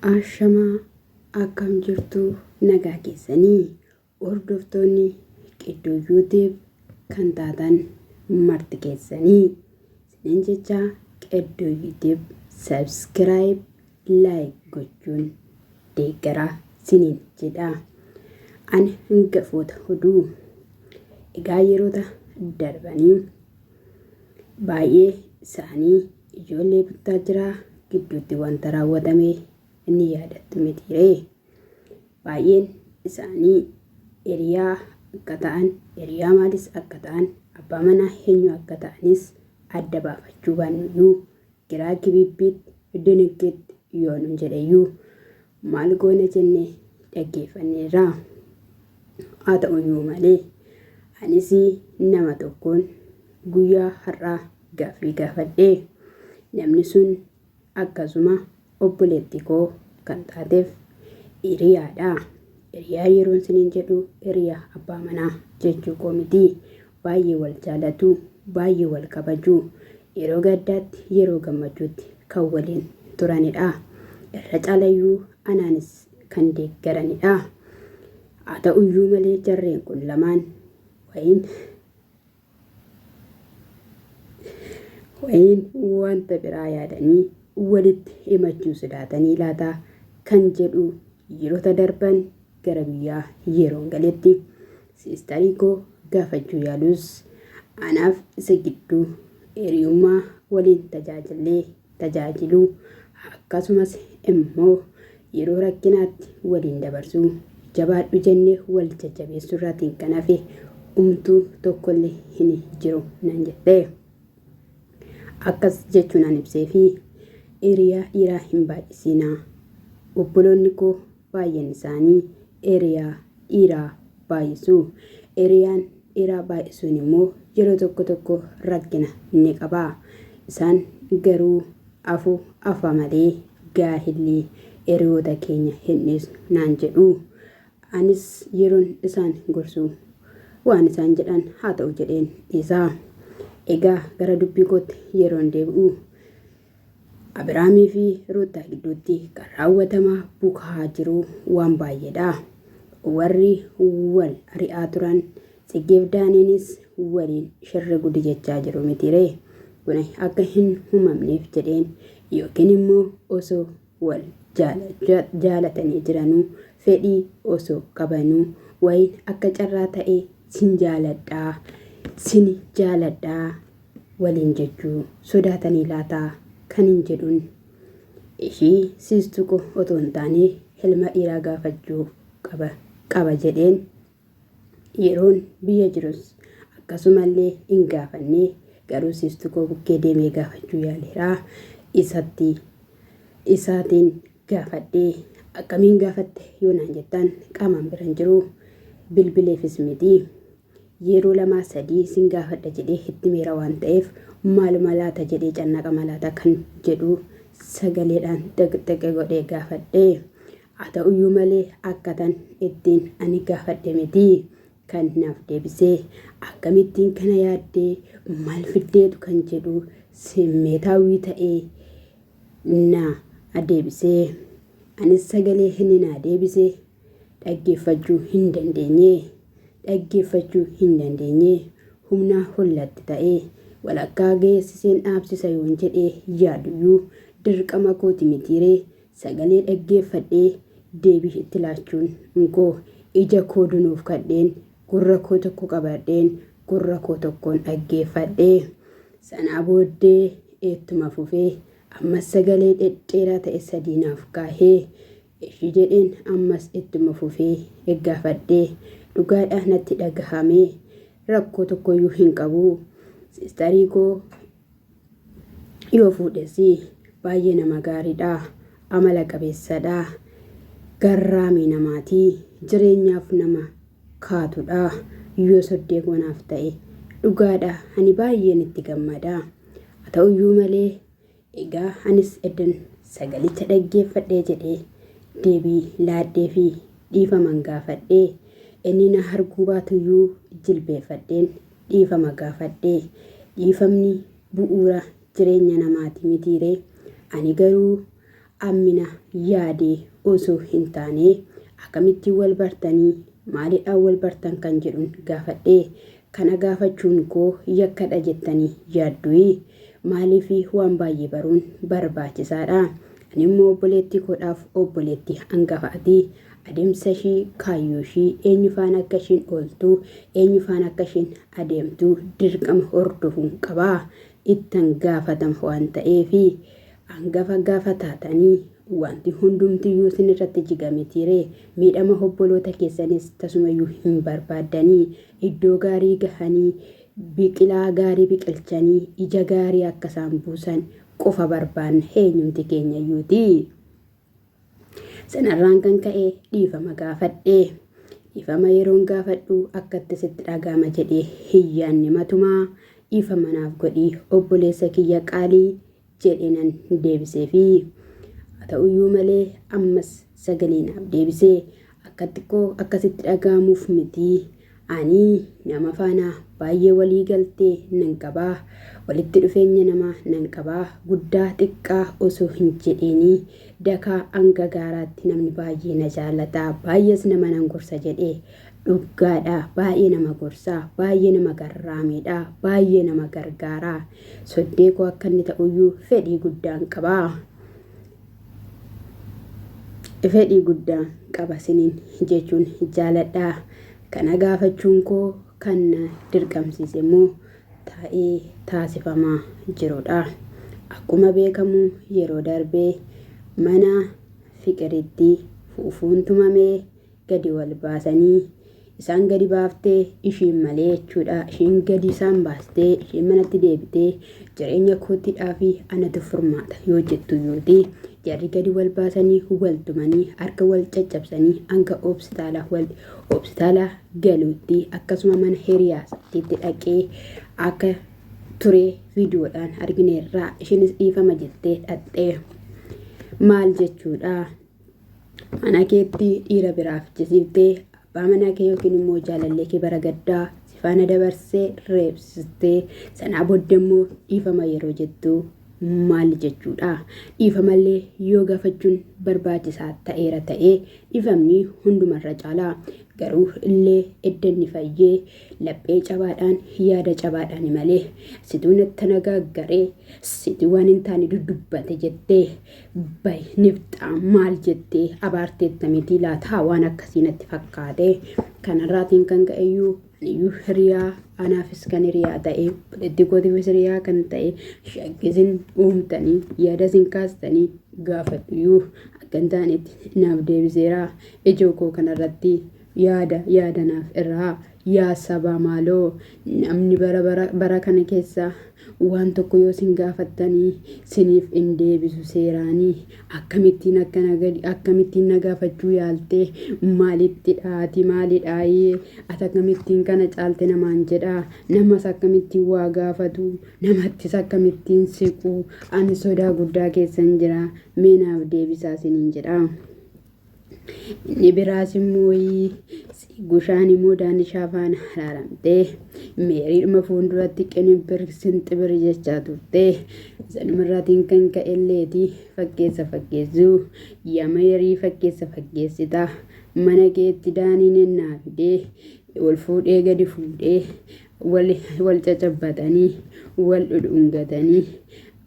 Ashamaa akkam jirtuu nagaa keessanii hordoftoonni qidduu yuutiib kan taatan marti keessanii isinin jechaa qidduu yuutiib sabskiraayib laayik gochuun deeggaraa siniin jedha an hangafoota huduu egaa yeroota darbanii baay'ee isaanii Ijoollee Buttaajiraa gidduutti wanta raawwatame ni yaadattu mitiiree? Baay'een isaanii hiriyaa akka ta'an, hiriyaa maalis akka ta'an, abbaa manaa eenyu akka ta'anis adda baafachuu baannuyyuu, giraa gibibbiitti, diniggiitti yoo nun jedheyyuu, maal goona jennee dhaggeeffanneerra. Haa ta'uyyuu malee anis nama tokkoon guyyaa har'aa gaaffii gaafadhe. Namni sun akkasuma obboleetti koo kan taateef hiriyaadha. Hiriyaa yeroon siniin jedhu hiriyaa abbaa manaa jechuu koo miti. Baay'ee wal jaalatu, baay'ee wal kabaju. Yeroo gaddaatti, yeroo gammachuutti kan waliin turanidha. Irra caalayyuu anaanis kan deeggaranidha. Haa ta'uyyuu malee jarreen kun lamaan wayiin wayiin wanta biraa yaadanii walitti himachuu sodaatanii laata kan jedhu yerota darban gara biyyaa yeroon galetti siistarii koo gaafachuu yaalus anaaf isa gidduu hiriyummaa waliin tajaajillee tajaajiluu akkasumas immoo yeroo rakkinaatti waliin dabarsuu jabaadhu jennee wal jajjabeessuu irraatiin kan hafe umtuu tokkollee hin jiru nan jette. Akkas jechuun an ibsee fi hiriyaa dhiiraa hin baay'isiinaa. Obboloonni koo Baay'een isaanii eeriyaa dhiiraa baay'isu. Eeriyaan dhiiraa baay'isuun immoo yeroo tokko tokko rakkina ni qaba. Isaan garuu afu afa malee gaahilli eeriyoota keenya hin dhiisnu naan jedhu. Anis yeroon isaan gorsu waan isaan jedhan haa ta'u jedheen dhiisa. Egaa gara dubbii kootti yeroon deebi'u Abiraamii fi Ruuttaa gidduutti kan raawwatamaa bukaa jiru waan baay'eedha. Warri wal ari'aa turan Tsiggeef Daaniinis waliin shirri gudi jechaa jiru mitiiree. Kuni akka hin humamneef jedheen yookiin immoo osoo wal jaalatanii jiranuu fedhii osoo qabanuu wayiin akka carraa ta'ee sin jaaladhaa sin jaaladhaa waliin jechuu sodaatanii laata kanin jedhun ishii siis tuqu otoo hin taane hilma dhiiraa gaafachuu qaba qaba jedheen yeroon biyya jirus akkasumallee hin gaafanne garuu siis tuquu bukkee deemee gaafachuu yaaleera isatti isaatiin gaafadhee akkamiin gaafatte yoo naan jettaan qaamaan biran jiru bilbileefis miti Yeroo lamaa sadii sin gaafadha jedhee itti meera waan ta'eef maaluma laata jedhee cannaqama laata kan jedhu sagaleedhaan xiqxiqi godhee gaafadhe. Haa ta'uyyuu malee akkatan ittiin ani gaafadhe miti kan naaf deebisee akkamittiin kana yaaddee maal fiddeetu kan jedhu simmeetaawwii ta'ee na deebisee. Anis sagalee inni naa deebise Dhaggeeffachuu hin dandeenye. Dhaggeeffachuu hin dandeenye. Humnaa ol natti ta'e. Walakkaa geessiseen dhaabsisa yoon jedhee yaaduyyuu dirqama kooti mitiiree? Sagalee dhaggeeffadhee deebii itti laachuun nkoo ija koo dunuufkadheen gurra koo tokko qabadheen gurra koo tokkoon dhaggeeffadhe. Sanaa booddee eettuma fufee ammas sagalee dhedheeraa ta'e sadii naaf kaahe. Eshi jedheen ammas ittuma fufee eggaafadhe dhugaadha natti dhagahame rakkoo tokkoyyuu hin qabu sistarii koo yoo fuudhesi baay'ee nama gaariidha amala qabeessadha garraamii namaati jireenyaaf nama kaatudha yoo soddee koo naaf ta'e dhugaadha ani baay'een itti gammada haa ta'uyyuu malee Egaa anis eddan sagalicha dhaggeeffadhee jedhee deebii laadheefii dhiifaman gaafadhee inni na arguu baatuyyuu jilbeeffadheen dhiifama gaafadhee dhiifamni bu'uura jireenya namaati mitiiree ani garuu ammina yaadee osoo hin taanee akamittiin wal bartanii maalidhaan wal bartan kan jedhun gaafadhee Kana gaafachuun koo yakkadha jettanii yaaddui? Maaliifi waan baay'ee baruun barbaachisaadha. Ani immoo obboleettii koodhaaf obboleettii angafa ati. Adeemsa ishii, kaayyoo ishii, eenyu faana akka ishiin ooltu, eenyu faana akka ishiin adeemtu dirqama hordofuun qaba. Ittan gaafatama waan ta'eefi. Angafa gaafa taatanii wanti hundumtiyyuu isin irratti jiga mitiiree? Miidhama obboloota keessanis tasumayyuu hin barbaaddanii? Iddoo gaarii gahanii, biqilaa gaarii biqilchanii, ija gaarii akka isaan buusan qofa barbaanna eenyumti keenyayyuutii. Sanarraan kan ka'e dhiifama gaafadhe. Dhiifama yeroon gaafadhu akkatti sitti dhaga'ama jedhee hin yaanne matumaa dhiifama naaf godhi obboleessa kiyya qaalii jedheenan deebiseefii. Haa ta'uyyuu malee ammas sagalee naaf deebise. Akkatti koo akkasitti dhaga'amuuf miti. Ani nama faana baay'ee walii galtee nan qaba. Walitti dhufeenya namaa nan qaba. Guddaa xiqqaa osoo hin jedheenii dakaa hanga gaaraatti namni baay'ee na jaalata. Baay'ees nama nan gorsa jedhe. Dhuggaadha baay'ee nama gorsa. Baay'ee nama garraamiidha. Baay'ee nama gargaara. Soddee koo akka inni ta'uyyuu fedhii guddaan qaba. Fedhii guddaan qaba siniin jechuun jaaladha. Kana gaafachuun koo kan na dirqamsiise immoo taa'ee taasifamaa jirudha. Akkuma beekamu yeroo darbee mana fiqiritti fuufuun tumamee gadi wal baasanii isaan gadi baaftee ishiin malee jechuudha ishiin gadi isaan baastee ishiin manatti deebitee jireenya koottiidhaa fi anatu furmaata yoo jettu yooti jarri gadi wal baasanii wal tumanii harka wal caccabsanii hanga hospitaala wal hospitaala galuutti akkasuma mana hiriyaasaatti dhaqee akka ture viidiyoodhaan argineerraa ishiinis dhiifama jettee dhaxxee maal jechuudha Mana keetti dhiira biraa fichisiiftee abbaa manaa kee yookiin immoo jaalallee kee bara gaddaa si faana dabarsee reebsistee sanaa booda immoo dhiifama yeroo jettu maal jechuudha? Dhiifamallee yoo gaafachuun barbaachisaa ta'eera ta'ee dhiifamni hundumarra caalaa garuu illee edda inni fayyee laphee cabaadhaan yaada cabaadhaan malee situu nattana gaaggaree situ waan hin taane duddubbate jettee bay nifxaa maal jettee abaarteetta mitii laataa waan akkasii natti fakkaate kanarraatiin kan ka'eyyuu aniyyuu hiriyaa anaafis kan hiriyaa ta'e obboleettii kootiifis hiriyaa kan ta'e shakkisin uumtanii yaada isin kaastanii gaafadhuyyuu akka hin taanetti naaf deebiseera ijoo koo kanarratti Yaada yaada naaf irraa. Yaa sabaa maaloo namni bara bara bara kana keessa waan tokko yoo sin gaafattanii siniif in deebisu seeraanii akkamittiin akkana gadi akkamittiin na gaafachuu yaaltee maalitti dhaati maali dhaayee ati akkamittiin kana caalte namaan jedhaa namas akkamittiin waa gaafatu namattis akkamittiin siquu ani sodaa guddaa keessan jira mee naaf deebisaa siniin jedhaa. Inni biraas immoo Siigushaan immoo Daanishaa faana araaramtee meeriidhuma fuulduratti qinibbir sinxibir jechaa turte. Sanumarraatiin kan ka'e illeeti fakkeessa fakkeessuu yaa meerii fakkeessa fakkeessita mana keetti daaniin ennaa fidee wal fuudhee gadi fuudhee wal wal cacabbatanii wal dhudhungatanii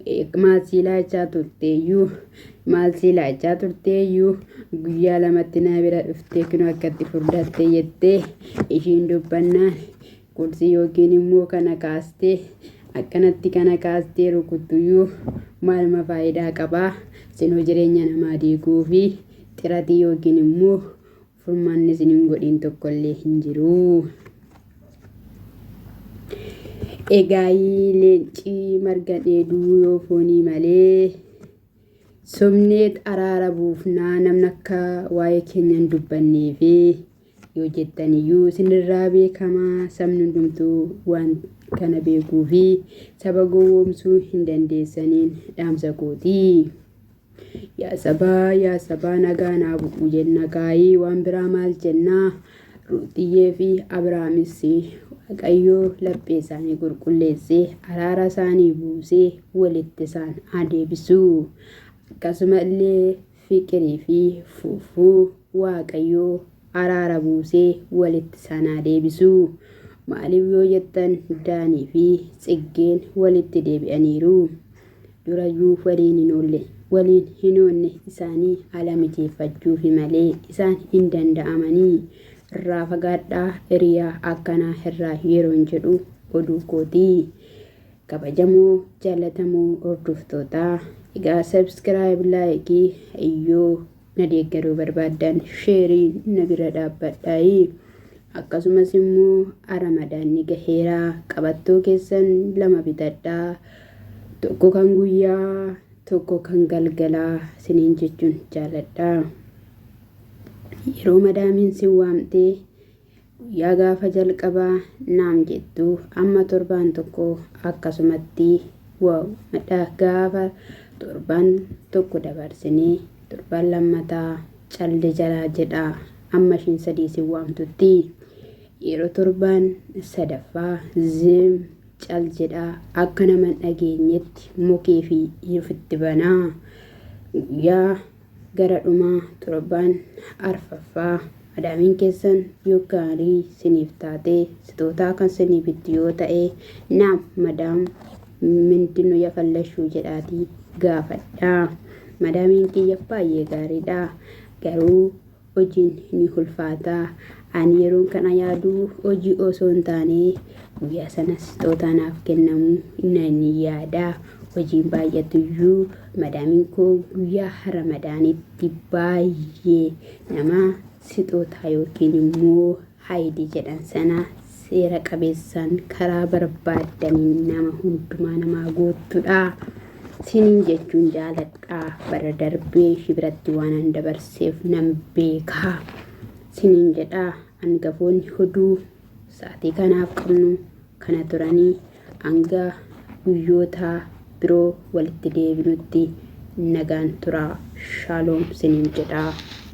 eh, maal sii laachaa turteeyyuu maal sii laachaa turteeyyuu guyyaa lamatti naa bira dhuftee kinoo akkatti furdattee jettee ishiin dubbannaan qursii yookiin immoo kana kaastee akkanatti kana kaastee rukuttuyyuu maaluma faayidaa qabaa sinoo jireenya namaa diiguu fi xiratii yookiin immoo Furmaanni isin hin godhiin tokkollee hin jiru. Egaayii leencii marga dheeduu yoo foonii malee sobneet araara buufnaa namni akka waa'ee keenya hin dubbannee fi yoo jettan iyyuu isinirraa beekamaa sabni hundumtuu waan kana beekuu fi saba gowwoomsuu hin dandeessaniin dhaamsa kootii. Yaa sabaa yaa sabaa nagaa naa bu'u jenna gaa'ii waan biraa maal jennaa ruuxiyyee fi abiraamis waaqayyoo laphee isaanii qulqulleessee araara isaanii buusee walitti isaan haa deebisuu akkasuma illee fiqirii fi fuufuu waaqayyoo araara buusee walitti isaan haa deebisuu maaliif yoo jettan daanii fi tsiggeen walitti deebi'aniiru durayyuu waliin hin oolle. Waliin hin oonne isaanii ala mijeeffachuufi malee isaan hin danda'amanii. Irraa fagaadhaa hiriyaa akkanaa irraa yeroon jedhu oduu kooti. Kabajamoo jaallatamoo hordoftootaa egaa subscribe like yoo na deeggaruu barbaaddan sheerii na bira dhaabbadhaayi akkasumas immoo aramadaanni gaheera qabattoo keessan lama bitadhaa tokko kan guyyaa tokko kan galgalaa siniin jechuun jaaladha yeroo madaamiin sin waamtee Guyyaa gaafa jalqabaa naam jettu amma torbaan tokko akkasumatti wow madha gaafa torbaan tokko dabarsinee torbaan lammataa calde jalaa jedha amma ishiin sadii si waamtutti yeroo torbaan sadaffaa zim cal jedha akka nama hin dhageenyetti mukee fi ifitti banaa guyyaa Gara dhuma torbaan arfaffaa madaamiin keessan yoo gaarii siniif taatee sitootaa kan sinii bittu yoo ta'ee naam madaam mindinu yafallashuu jedhaatii gaafadhaa madaamiin kiyya baay'ee gaariidha garuu Hojiin ni hulfaata. Ani yeroon kana yaadu hojii osoo hin taane guyyaa sana sixootaa naaf kennamu nan yaada. Hojiin baay'atu iyyuu madaamiin koo guyyaa ramadaanitti baay'ee nama sixootaa yookiin immoo Haayidii jedhan sana seera qabeessaan karaa barbaaddaniin nama hundumaa namaa guuttudha. Sinin jechuun jaaladha. Bara darbee ishii biratti waan an dabarseef nan beeka. Sinin jedha angafoonni hoduu sa'atii kanaaf qabnu kana turanii hanga guyyoota biroo walitti deebinutti nagaan tura. Shaaloom sinin jedha.